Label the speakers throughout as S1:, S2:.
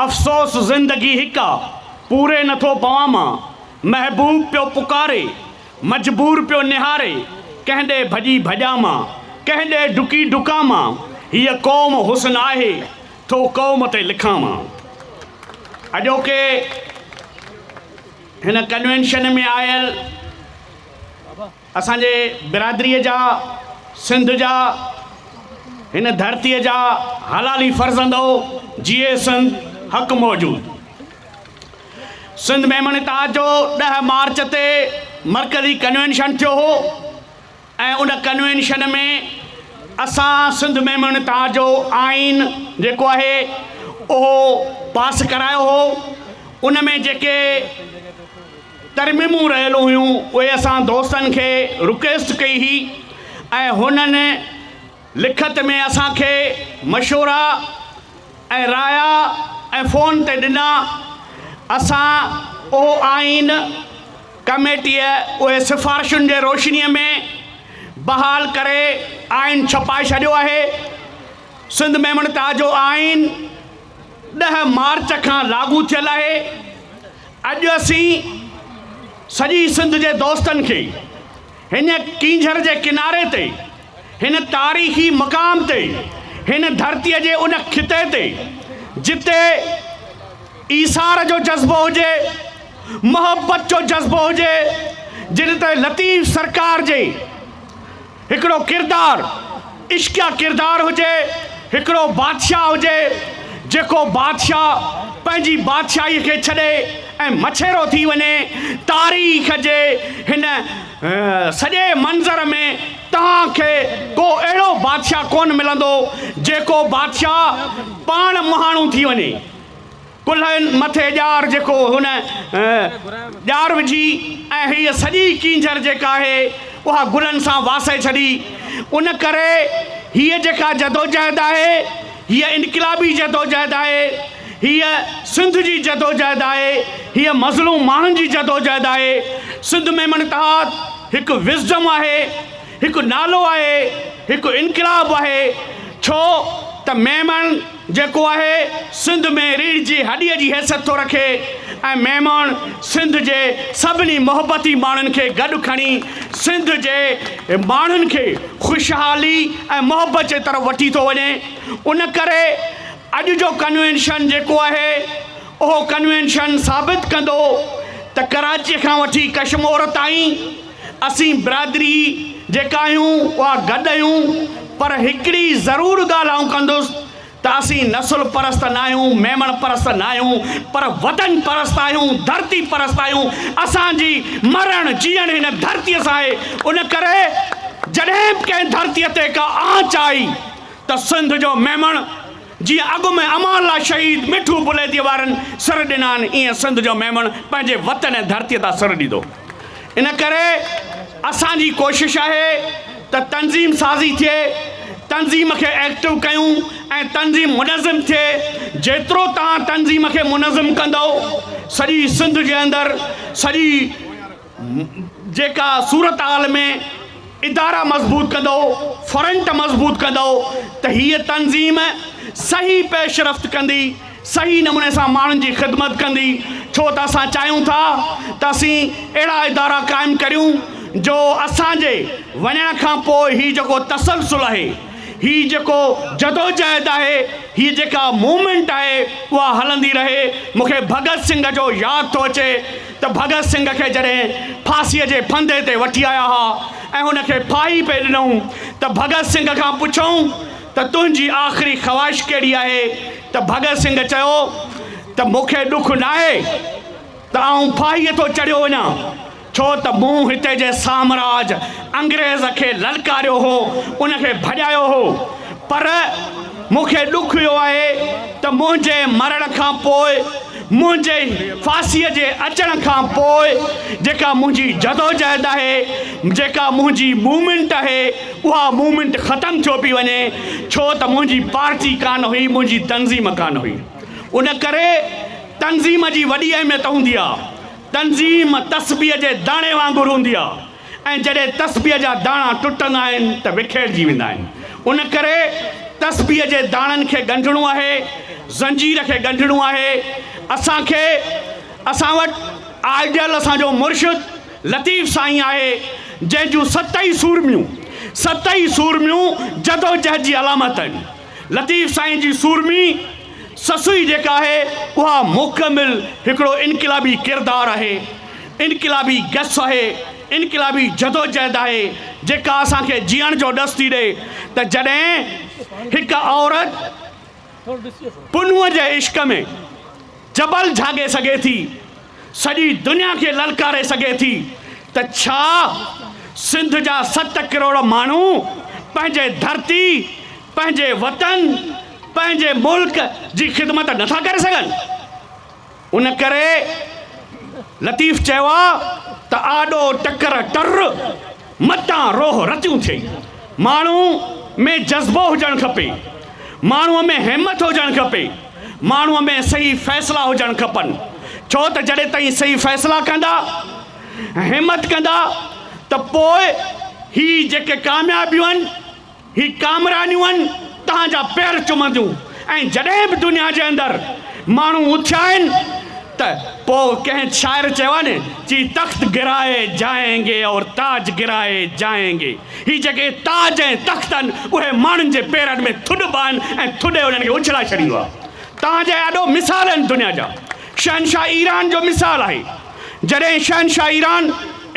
S1: افسوس زندگي هڪ آ، پوري نٿو پوان مان، محبوب پيو پڪاري، مجبور پيو نهاري، ڪنهن ڏي ڀڄي ڀڄان مان، ڪنهن ڏي ڊڪي ڊڪان مان، هيء قوم حسن آهي، ٿو قوم تي لکان مان. اڄوڪي هن ڪنوينشن ۾ آيل. اسان جي برادريء جا، سنڌ جا، هن ڌرتيء جا حلالي فرزند او، جيئي سنڌ، حق موجود. سنڌ ميمڻ اتحاد جو ڏهه مارچ تي مرڪزي ڪنوينشن ٿيو هو ۽ ان ڪنوينشن ۾ اسان سنڌ ميمڻ اتحاد جو آئين جيڪو آهي اهو پاس ڪرايو هو ان ۾ جيڪي ترميمون رهيل هيون اهي اسان دوستن کي رڪويسٽ ڪئي هئي ۽ هنن لکت ۾ اسان کي مشورا ۽ رايا ۽ فون تي ڏنا اسان اهو آئين ڪميٽيء اهي سفارشن جي روشنيء ۾ بحال ڪري آئين ڇپائي ڇڏيو آهي سنڌ ميمڻ تاجو آئين ڏهه مارچ کان لاڳو ٿيل آهي. اڄ اسين سڄي سنڌ جي دوستن کي هن ڪينجهر جي ڪناري تي، هن تاريخي مقام تي، هن ڌرتيء جي ان خطي تي جتي ايثار جو جذبو هجي، محبت جو جذبو هجي، جن تي لطيف سرڪار جي. هڪڙو ڪردار عشقيه ڪردار هجي، هڪڙو بادشاهه هجي، جيڪو بادشاهه پنهنجي بادشاهي کي ڇڏي ۽ مڇيرو ٿي وڃي، تاريخ جي هن سڄي منظر ۾ توهان کي ڪو اهڙو بادشاهه ڪونه ملندو، جيڪو بادشاهه پاڻ مهاڻو ٿي وڃي. ڪلهن مٿي ڄار جيڪو هن ڄار وجهي ۽ هيء سڄي ڪينجهر جيڪا آهي اها گلن سان واسي ڇڏي. ان ڪري هيء جيڪا جدوجهد آهي هيء انقلابي جدوجهد آهي، هيء سنڌ جي جدوجهد آهي، هيء مظلوم ماڻهن جي جدوجهد آهي. سنڌ ميمڻ اتحاد هڪ وزڊم آهي، هڪ نالو آهي، هڪ انقلاب آهي ڇو ته ميمڻ، جيڪو آهي سنڌ ۾ ريڙهه جي هڏيء جي حيثيت ٿو رکي ۽ مهماڻ سنڌ جي سڀني محبتي ماڻهن کي گڏ کڻي سنڌ جي ماڻهن کي خوشحالي ۽ محبت جي طرف وٺي ٿو وڃي ان ڪري اڄ جو ڪنوينشن جيڪو آهي اهو ڪنوينشن ثابت ڪندو ته ڪراچي کان وٺي ڪشمور تائين اسين برادري جيڪا آهيون اها گڏ آهيون پر هڪڙي ضرور ڳالهه آئون ڪندس ته اسين نسل پرست نه آهيون ميمڻ پرست نه آهيون پر وطن پرست آهيون ڌرتي پرست آهيون اسان جي مرڻ جيئڻ هن ڌرتي سان آهي ان ڪري جڏهن به ڪنهن ڌرتي تي ڪا آنچ آئي ته سنڌ جو ميمڻ جيئن اڳ ۾ امان لاء شهيد مٺو پليجي وارن سر ڏنا آهن، ايئن سنڌ جو ميمڻ پنهنجي وطن ۽ ڌرتيء تان سر ڏيندو. ان ڪري اسان جي ڪوشش آهي ته تنظيم سازي ٿئي، تنظيم کي ايڪٽو ڪيون ۽ تنظيم منظم ٿئي. جيترو توهان تنظيم کي منظم ڪندؤ، سڄي سنڌ جي اندر سڄي. جيڪا صورتحال ۾ ادارا مضبوط ڪندو، فرنٽ مضبوط ڪندو ته هيء تنظيم صحيح پيشرفت ڪندي، صحيح نموني سان ماڻهن جي خدمت ڪندي، ڇو ته اسان چاهيون ٿا ته اسين اهڙا ادارا قائم ڪريون جو اسان جي وڃڻ کان پوء هي جيڪو تسلسل آهي، هي جيڪو جدوجهد آهي، هيء جيڪا موومينٽ آهي اها هلندي رهي، مون کي ڀڳت سنگهه جو ياد ٿو اچي. ته ڀڳت سنگهه کي جڏهن ڦاسيء جي ڦندي تي وٺي آيا ها ۽ هن کي ڦاهي پئي ڏنائون ته ڀڳت سنگهه کان پڇيائون ته تنهنجي آخري خواهش ڪهڙي آهي ته ڀڳت سنگهه چيو ته مون کي ڏک ناهي ته آئون ڦاهيء ٿو چڙهيو وڃان ڇو ته مون هتي جي سامراج انگريز کي للڪاريو هو ان کي ڀڄايو هو پر مون کي ڏک اهو آهي ته منهنجي مرڻ کان پوء منهنجي ڦاسيء جي اچڻ کان پوء جيڪا منهنجي جدوجهد آهي، جيڪا منهنجي موومينٽ آهي، اها موومينٽ ختم ٿيو پئي وڃي، ڇو ته منهنجي پارٽي ڪانه هئي، منهنجي تنظيم ڪانه هئي. ان ڪري تنظيم جي وڏي اهميت هوندي آهي. تنظيم تسبيح جي داڻي وانگر هوندي آهي. ۽ جڏهن تسبيح جا داڻا ٽٽندا آهن ته وکيڙجي ويندا آهن ان ڪري تسبيح جي داڻن کي ڳنڍڻو آهي زنجير کي ڳنڍڻو آهي اسان کي اسان وٽ آئيڊيل اسان جو مرشد لطيف سائين آهي جنهن جون ست ئي سورميون ست ئي سورميون جدوجهد جي علامت آهن لطيف سائين جي سورمي سسئي جيڪا آهي اها مڪمل هڪڙو انقلابي ڪردار آهي، انقلابي گس آهي، انقلابي جدوجهد آهي جيڪا اسان کي جيئڻ جو ڏس ٿي ڏئي ته جڏهن هڪ عورت پنهونء جي عشق ۾ جبل جهاڳي سگهي ٿي. سڄي دنيا کي للڪاري سگهي ٿي ته ڇا سنڌ جا ست ڪروڙ ماڻهو پنهنجي ڌرتي، پنهنجي وطن، پنهنجي ملڪ جي خدمت نه ٿا ڪري سگهن؟ ان ڪري لطيف چيو آهي ته آڏو ٽڪر ٽر. متان روح رتيون ٿئي. ماڻهو ۾ جذبو هجڻ کپي. ماڻهوء ۾ همٿ هجڻ کپي. ماڻهوء ۾ صحيح فيصلا هجڻ کپن. ڇو ته جڏهن توهين صحيح فيصلا ڪندا، همٿ ڪندا ته پوء هي جيڪي ڪاميابيون آهن، هي ڪامرانيون آهن توهان جا پير چمنديون ۽ جڏهن به دنيا جي اندر ماڻهو اٿيا آهن ته پوء ڪنهن شاعر چيو آهي نه چي تخت گرائي جائين گي اور تاج گرائي جائين گي هي جيڪي تاج ۽ تخت آهن اهي ماڻهن جي پيرن ۾ ٿڏبا آهن ۽ ٿڏي انهن کي اڇلائي ڇڏيندو آهي توهان جا اهي اڏو مثال آهن دنيا جا شهنشاهه ايران جو مثال آهي جڏهن شهنشاهه ايران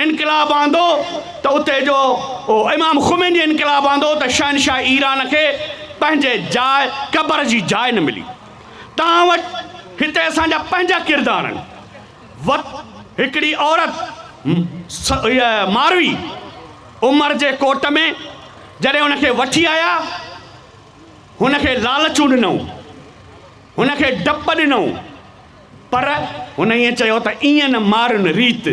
S1: انقلاب آندو ته اتي جو امام خميني انقلاب آندو ته شهنشاهه ايران کي پنهنجي جاء قبر جي جاء نه ملي توهان وٽ هتي اسان جا پنهنجا ڪردار آهن وت هڪڙي عورت ماروي عمر جي ڪوٽ ۾ جڏهن هن کي وٺي آيا هن کي لالچون ڏنئون هن کي ڊپ ڏنئون. پر هن ائين چيو ته ائين نه مارن ريت،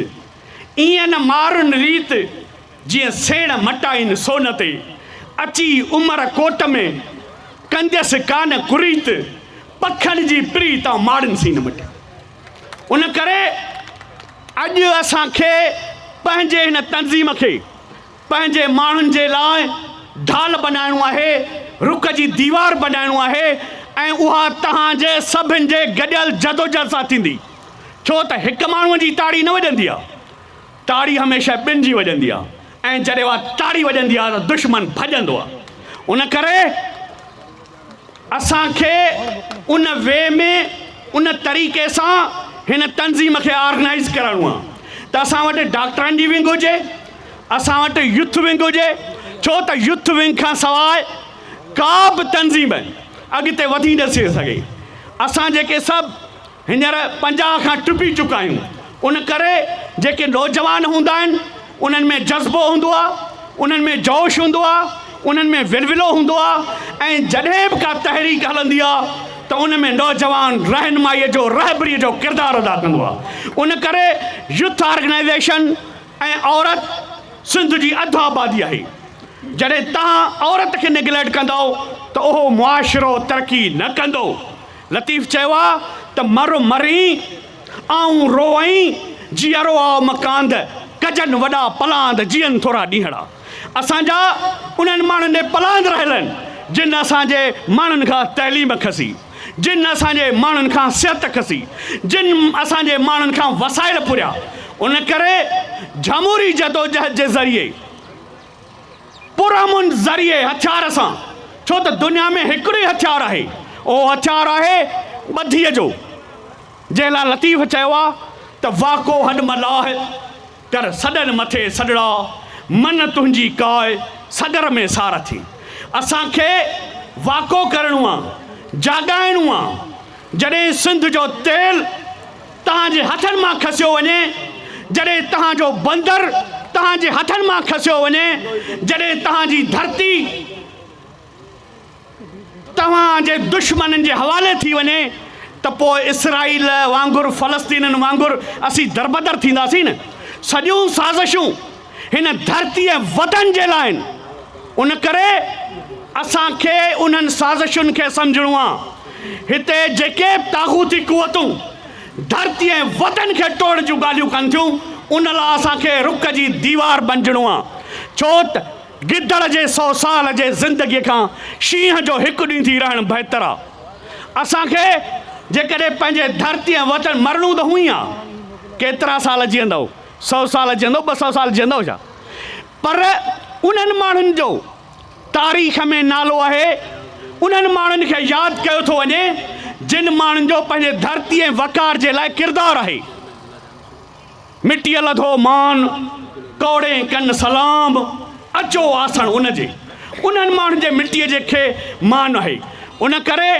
S1: ائين نه مارن ريت، جيئن سيڻ مٽائين سون تي، اچي عمر ڪوٽ ۾، ڪنديس ڪا نه ڪريت، پکن جي پري تان ماڙن سين مٽي. ان ڪري اڄ اسان کي پنهنجي هن تنظيم کي پنهنجي ماڻهن جي لاء ڍال بنائڻو آهي، رڪ جي ديوار بنائڻو آهي ۽ اها توهان جي سڀن جي گڏيل جدوجهد سان ٿيندي. ڇو ته هڪ ماڻهوء جي تاڙي نه وڄندي آهي. تاڙي هميشه ٻن جي وڄندي آهي ۽ جڏهن اها تاڙي وڄندي آهي ته دشمن ڀڄندو آهي. ان ڪري. اسان کي ان وي ۾ ان طريقي سان هن تنظيم کي آرگنائيز ڪرڻو آ ته اسان وٽ ڊاڪٽرن جي ونگ هجي اسان وٽ يوٿ ونگ هجي ڇو ته يوٿ ونگ کان سواء ڪا به تنظيم اڳتي وڌي نه ٿي سگهي اسان جيڪي سڀ هينئر پنجاهه کان ٽپي چڪا آهيون، ان ڪري جيڪي نوجوان هوندا آهن، انهن ۾ جذبو هوندو آهي، انهن ۾ جوش هوندو آهي، انهن ۾ ولولو هوندو آهي ۽ جڏهن به ڪا تحريڪ هلندي آهي ته ان ۾ نوجوان رهنمائيء جو، رهبريء جو ڪردار ادا ڪندو آهي. ان ڪري يوٿ آرگنائيزيشن ۽ عورت سنڌ جي اڌ آبادي آهي. جڏهن توهان عورت کي نيگليٽ ڪندؤ ته اهو معاشرو ترقي نه ڪندو. لطيف چيو آ ته مر مرين آئون روئين جيئرو آء مڪاند ڪجن وڏا پلاند جيئن ٿورا ڏينهڙا اسان جا انهن ماڻهن ڏي پلاند رهلن جن اسان جي ماڻهن کان تعليم کسي جن اسان جي ماڻهن کان صحت کسي جن اسان جي ماڻهن کان وسائل پوريا ان ڪري جھموري جدوجهد جي ذريعي پرامن ذريعي هٿيار سان، ڇو ته دنيا ۾ هڪڙو ئي هٿيار آهي، اهو هٿيار آهي ٻڌيء جو، جنهن لاء لطيف چيو آهي ته واڪو هڏ ملاح ڪر، سڏن مٿي سڏڙا، من تنهنجي ڪاء، سڳر ۾ سار ٿي. اسان کي واڪو ڪرڻو آهي، جاڳائڻو آهي، جڏهن سنڌ جو تيل. توهان جي هٿن مان کسيو وڃي، جڏهن توهان جو بندر توهان جي هٿن مان کسيو وڃي، جڏهن توهان جي ڌرتي توهان جي دشمنن جي حوالي ٿي وڃي ته پوء اسرائيل وانگر فلسطينين وانگر اسين دربدر ٿينداسين نه سڄيون سازشون هن ڌرتيء وطن جي لاء آهن، ان ڪري اسان کي انهن سازشن کي سمجهڻو آهي، هتي جيڪي به طاغوتي قوتون ڌرتي ۽ وطن کي ٽوڙڻ جون ڳالهيون ڪن ٿيون، ان لاء اسان کي رڪ جي ديوار بنجڻو آهي، ڇو ته گدڙ جي سو سال جي زندگيء کان شينهن جو هڪ ڏينهن ٿي رهڻ بهتر آهي. اسان کي جيڪڏهن پنهنجي ڌرتي ۽ وطن مرڻو ته هونئن ئي آهي، ڪيترا سال جيئندؤ؟ سؤ سال جيئندو، ٻه سؤ سال جيئندو ڇا؟ پر انهن ماڻهن جو تاريخ ۾ نالو آهي، انهن ماڻهن کي ياد ڪيو ٿو وڃي، جن ماڻهن جو پنهنجي ڌرتي ۽ وقار جي لاء ڪردار آهي. مٽيء لڌو مان، ڪوڙين ڪن سلام، اچو آسڻ ان جي. انهن ماڻهن جي مٽيء جي کي مان آهي. ان ڪري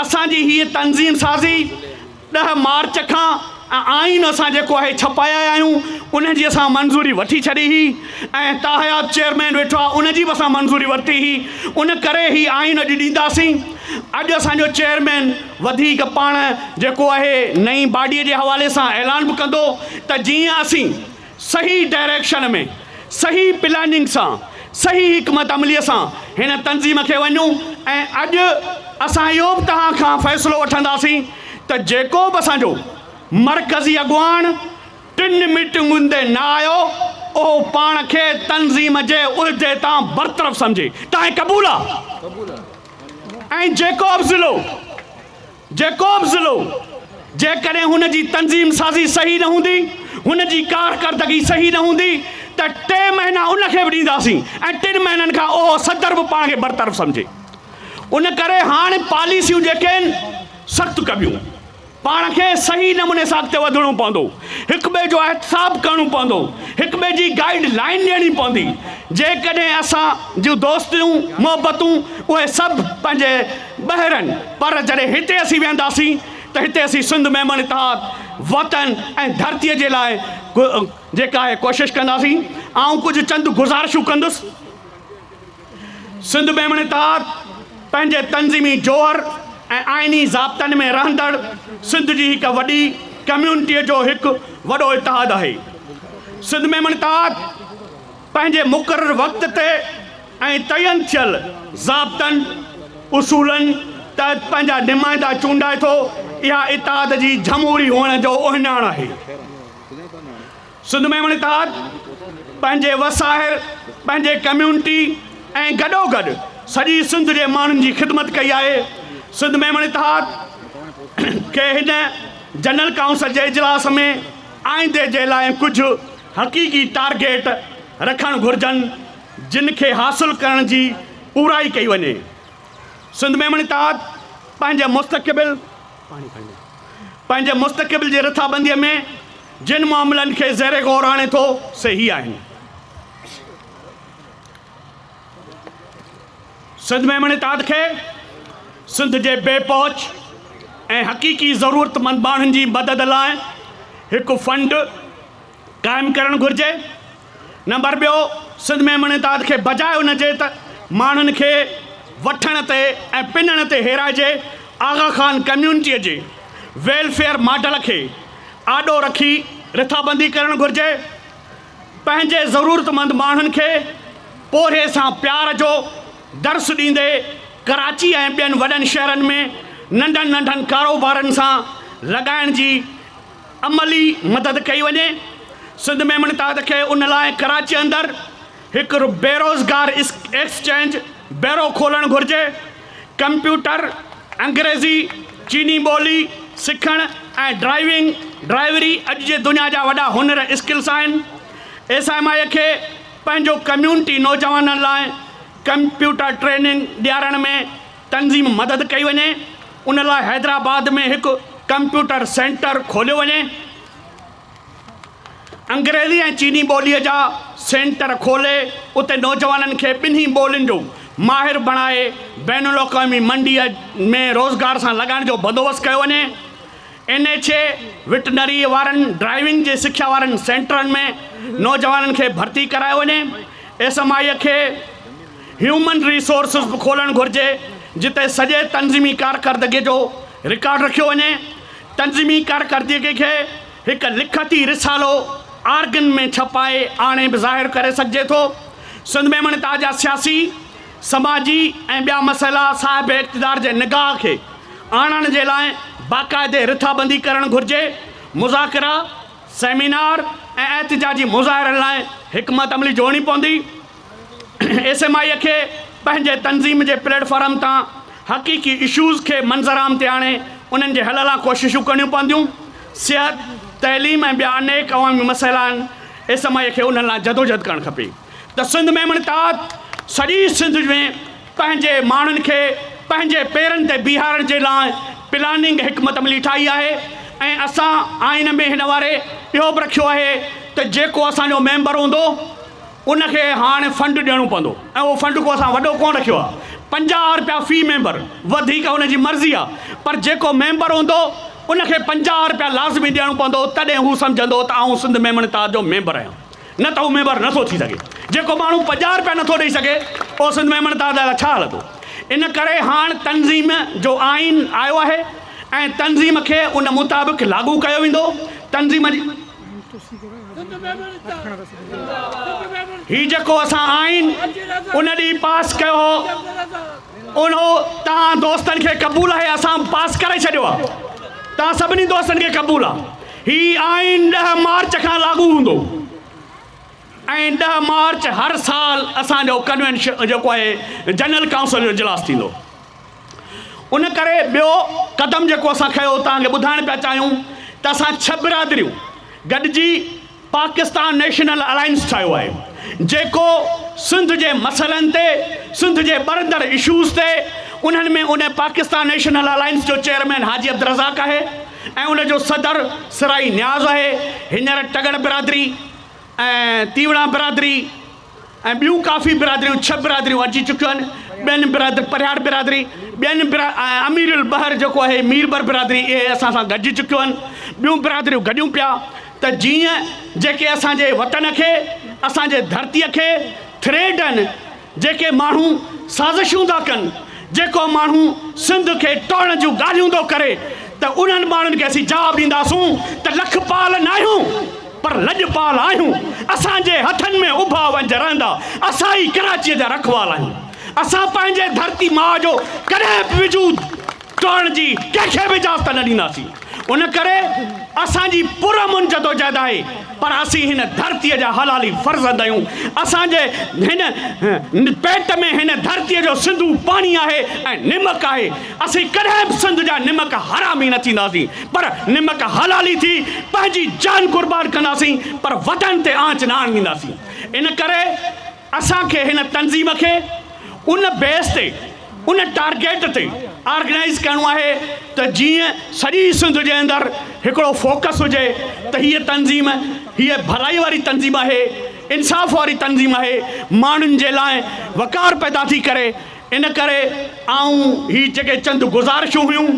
S1: اسان جي هيء تنظيم سازي ڏهه مارچ کان آئين اسان جيڪو آهي ڇپائي آيا آهيون ان جي اسان منظوري وٺي ڇڏي هئي ۽ تاحيات چيئرمين ويٺو آهي ان جي به اسان منظوري ورتي هئي ان ڪري هي آئين اڄ ڏينداسين اڄ اسان جو چيئرمين وڌيڪ پاڻ جيڪو آهي نئين باڊي جي حوالي سان اعلان به ڪندو ته جيئن اسين صحيح ڊائريڪشن ۾ صحيح پلاننگ سان صحيح حڪمت عملي سان هن تنظيم کي وڃون ۽ اڄ اسان اهو به توهان کان فيصلو وٺنداسين ته جيڪو به اسان جو مرڪزي اڳواڻ ٽن ميٽنگن تي نه آيو اهو پاڻ کي تنظيم جي عهدي تان برطرف سمجهي تانئن قبول آ ۽ جيڪو به ضلعو جيڪوب ضلعو جيڪڏهن هن جي تنظيم سازي صحيح نه هوندي، هن جي ڪارڪردگي صحيح نه هوندي ته ٽي مهينا ان کي به ڏينداسين ۽ ٽن مهينن کان اهو صدر به پاڻ کي برطرف سمجهي. ان ڪري هاڻ پاليسيون جيڪي آهن سخت ڪبيون. پاڻ کي صحيح نموني سان اڳتي وڌڻو پوندو. هڪ ٻئي جو احتساب ڪرڻو پوندو. هڪ ٻئي جي گائيڊ لائين ڏيڻي پوندي. جيڪڏهن اسان جون دوستيون، محبتون اهي سڀ پنهنجي ٻهرن، پر جڏهن هتي اسين ويهنداسين ته هتي اسين سنڌ ميمڻ اتحاد، وطن ۽ ڌرتيء جي لاء جيڪا آهي ڪوشش ڪنداسين. آئون ڪجهه چند گذارشون ڪندس. سنڌ ميمڻ اتحاد پنهنجي تنظيمي جوهر ۽ آئيني ضابطن ۾ رهندڙ سنڌ جي هڪ وڏي ڪميونٽيء جو هڪ وڏو اتحاد آهي. سنڌ ميمڻ اتحاد پنهنجي مقرر وقت تي، ۽ تعين ٿيل ضابطن اصولن تحت پنهنجا نمائندا چونڊائي ٿو، اها اتحاد جي جھموري هئڻ جو اهڃاڻ آهي. سنڌ ۾ هن اتحاد پنهنجي وساهر، پنهنجي ڪميونٽي ۽ گڏوگڏ سڄي سنڌ جي ماڻهن جي خدمت ڪئي آهي. سنڌ ۾ هن اتحاد کي هن جنرل ڪائونسل جي اجلاس ۾ آئيندي جي لاء ڪجهه حقيقي ٽارگيٽ رکڻ گهرجن. جن کي حاصل ڪرڻ جي پورائي ڪئي وڃي. سنڌ ميمڻ اتحاد پنهنجي مستقبل پنهنجي مستقبل جي رٿابنديء ۾ جن معاملن کي زير غور آڻي ٿو سي هي آهن. سنڌ ميمڻ اتحاد کي سنڌ جي بي پهچ ۽ حقيقي ضرورتمند ماڻهن جي مدد لاء هڪ فنڊ، قائم ڪرڻ گهرجي، نمبر ٻيو سنڌ ۾ امن اتحاد کي بجاء ان جي ته ماڻهن کي وٺڻ تي ۽ پنڻ تي هيرائجي آغا خان ڪميونٽيء جي ويلفيئر ماڊل کي آڏو رکي رٿابندي ڪرڻ گهرجي، پنهنجي ضرورتمند ماڻهن کي پورهيي سان پيار جو درس ڏيندي ڪراچي ۽ ٻين وڏن شهرن ۾ ننڍن ننڍن ڪاروبارن سان لڳائڻ جي عملي مدد ڪئي وڃي سنڌ ميمڻ تحت کي ان لاء ڪراچي اندر هڪ بيروزگار ايڪسچينج بيرو کولڻ گهرجي ڪمپيوٽر انگريزي چيني ٻولي سکڻ ۽ ڊرائيونگ ڊرائيوري اڄ جي دنيا جا وڏا هنر اسڪلس آهن ايس ايم آئي کي پنهنجو ڪميونٽي نوجوانن لاء ڪمپيوٽر ٽريننگ ڏيارڻ ۾ تنظيم مدد ڪئي وڃي ان لاء حيدرآباد ۾ هڪ ڪمپيوٽر سينٽر کوليو وڃي انگريزي ۽ چيني ٻولي جا سينٽر کولي اتي نوجوانن کي ٻنهي ٻولين جو ماهر بڻائي بين الاقوامي منڊي ۾ روزگار سان لڳائڻ جو بندوبست ڪيو وڃي اين ايڇ اي وٽنري وارن ڊرائيونگ جي سکيا وارن سينٽرن ۾ نوجوانن کي ڀرتي ڪرايو وڃي ايس ايم آئي کي هيومن ريسورسز به کولڻ گهرجي جتي سڄي تنظيمي ڪارڪردگي جو رڪارڊ رکيو وڃي، تنظيمي ڪارڪردگي کي هڪ لکتي رسالو آرگن ۾ ڇپائي آڻي به ظاهر ڪري سگهجي ٿو، سنڌ ميمڻ تازا سياسي، سماجي ۽ ٻيا مسئلا صاحب اقتدار جي نگاهه کي آڻڻ جي لاء باقاعدي رٿابندي ڪرڻ گهرجي، مذاڪرا، سيمينار ۽ احتجاجي مظاهرن لاء حڪمت عملي جوڙڻي پوندي. ايس ايم آء کي پنهنجي تنظيم جي پليٽ فارم تان حقيقي اشوز کي منظر عام تي آڻي انهن جي حل لا ڪوششون ڪرڻيون پونديون. صحت، تعليم ۽ ٻيا انيڪ عوامي مسئلا آهن، ايس ايم آء کي انهن لا جدوجهد ڪرڻ کپي ته سنڌ ميمڻ تحت سڄي سنڌ ۾ پنهنجي ماڻهن کي پنهنجي پيرن تي بيهارڻ جي لا پلاننگ حڪمت عملي ٺاهي آهي ۽ اسان آئين ۾ هن واري اهو به رکيو آهي ته جيڪو اسان جو ميمبر هوندو ان کي هاڻ فنڊ ڏيڻو پوندو ۽ اهو فنڊ ڪو اسان وڏو ڪونه رکيو آهي. پنجاهه رپيا في ميمبر، وڌيڪ ان جي مرضي آهي پر جيڪو ميمبر هوندو ان کي پنجاهه رپيا لازمي ڏيڻو پوندو تڏهن هو سمجهندو ته آئون سنڌ ميمڻ اتحاد جو ميمبر آهيان نه ته هو ميمبر نه ٿو ٿي سگهي. جيڪو ماڻهو پنجاهه رپيا نه ٿو ڏئي سگهي اهو سنڌ ميمڻ اتحاد لاء ڇا هلندو. ان ڪري هاڻ تنظيم جو آئين آيو آهي ۽ تنظيم کي ان مطابق لاڳو ڪيو ويندو. تنظيم جي. هي جيڪو اسان آئين ان ڏينهن پاس ڪيو هو ان توهان دوستن کي قبول آهي اسان پاس ڪري ڇڏيو آهي توهان سڀني دوستن کي قبول آهي هي آئين ڏهه مارچ کان لاڳو هوندو ۽ ڏهه مارچ هر سال اسانجو ڪنوينشن جيڪو آهي جنرل ڪائونسل جو اجلاس ٿيندو ان ڪري ٻيو قدم جيڪو اسان کنيو توهان کي ٻڌائڻ پيا چاهيون ته اسان ڇهه برادريون گڏجي پاڪستان نيشنل الائنس ٺاهيو آهي جيڪو سنڌ جي مسئلن تي سنڌ جي ٻرندڙ اشوز تي انهن ۾ ان پاڪستان نيشنل الائنس جو چيئرمين حاجي عبدالرزاق آهي ۽ ان جو صدر سرائي نياز آهي هينئر ٽڳڙ برادري ۽ تيوڙان برادري ۽ ٻيون ڪافي برادريون ڇهه برادريون اچي چڪيون آهن ٻين برادر پرهياڙ برادري ٻين برا ۽ امير البحر جيڪو آهي ميربر برادري اهي اسان سان گڏجي چڪيون آهن ٻيون برادريون گڏيون پيا ته جيئن جيڪي اسان جي وطن کي اسان جي ڌرتيء کي ٿريڊ آهن جيڪي ماڻهو سازشون ٿا ڪن جيڪو ماڻهو سنڌ کي ٽوڙڻ جون ڳالهيون ٿو ڪري ته انهن ماڻهن کي اسين جواب ڏينداسون ته لکپال ناهيون پر لڄپال آهيون، اسان جي هٿن ۾ اڀا ونجهه رهندا، اسان ئي ڪراچيء جا رکوال آهيون. اسان پنهنجي ڌرتي ماء جو ڪڏهن به وجود ٽوڙڻ جي ڪنهن کي به اجازت نه ڏينداسين. ان ڪري اسان جي پرامن جدوجهد آهي، پر اسين هن ڌرتيء جا حلالي فرزند آهيون. اسان جي هن پيٽ ۾ هن ڌرتيء جو سنڌو پاڻي آهي ۽ نمڪ آهي. اسين ڪڏهن به سنڌ جا نمڪ حرامي نه ٿينداسين پر نمڪ حلالي ٿي پنهنجي جان قربان ڪنداسين پر وطن تي آنچ نه آڻينداسين ان ڪري اسان کي هن تنظيم کي ان بيس تي ان ٽارگيٽ تي آرگنائيز ڪرڻو آهي ته جيئن سڄي سنڌ جي اندر هڪڙو فوڪس هجي ته هيء تنظيم هيء ڀلائي واري تنظيم آهي انصاف واري تنظيم آهي ماڻهن جي لاء وقار پيدا ٿي ڪري ان ڪري آئون هي جيڪي چند گذارشون هيون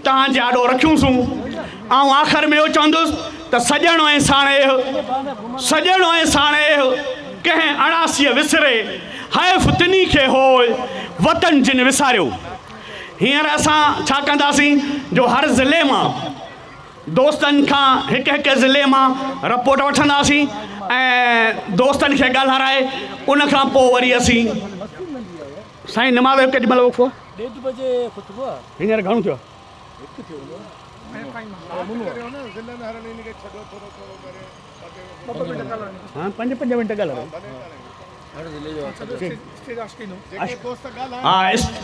S1: توهان جي آڏو رکيون سون. آئون آخر ۾ اهو چوندس ته سڄڻ ۽ ساڻيهه، سڄڻ ۽ ساڻيهه ڪنهن اڻاسيء وسري، حيف تنهي کي هوء وطن جن وساريو. هينئر اسان ڇا ڪنداسين جو هر ضلعي مان دوستن کان هڪ هڪ ضلعي مان رپورٽ وٺنداسين ۽ دوستن کي ڳالهارائي ان کان پوء وري اسين سائين نماز جو ڪيڏي مهل وقفو هينئر گهڻو ٿيو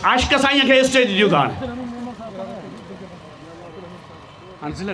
S1: عاشق سائين کي اسٽيج ڏيو ٿا هاڻي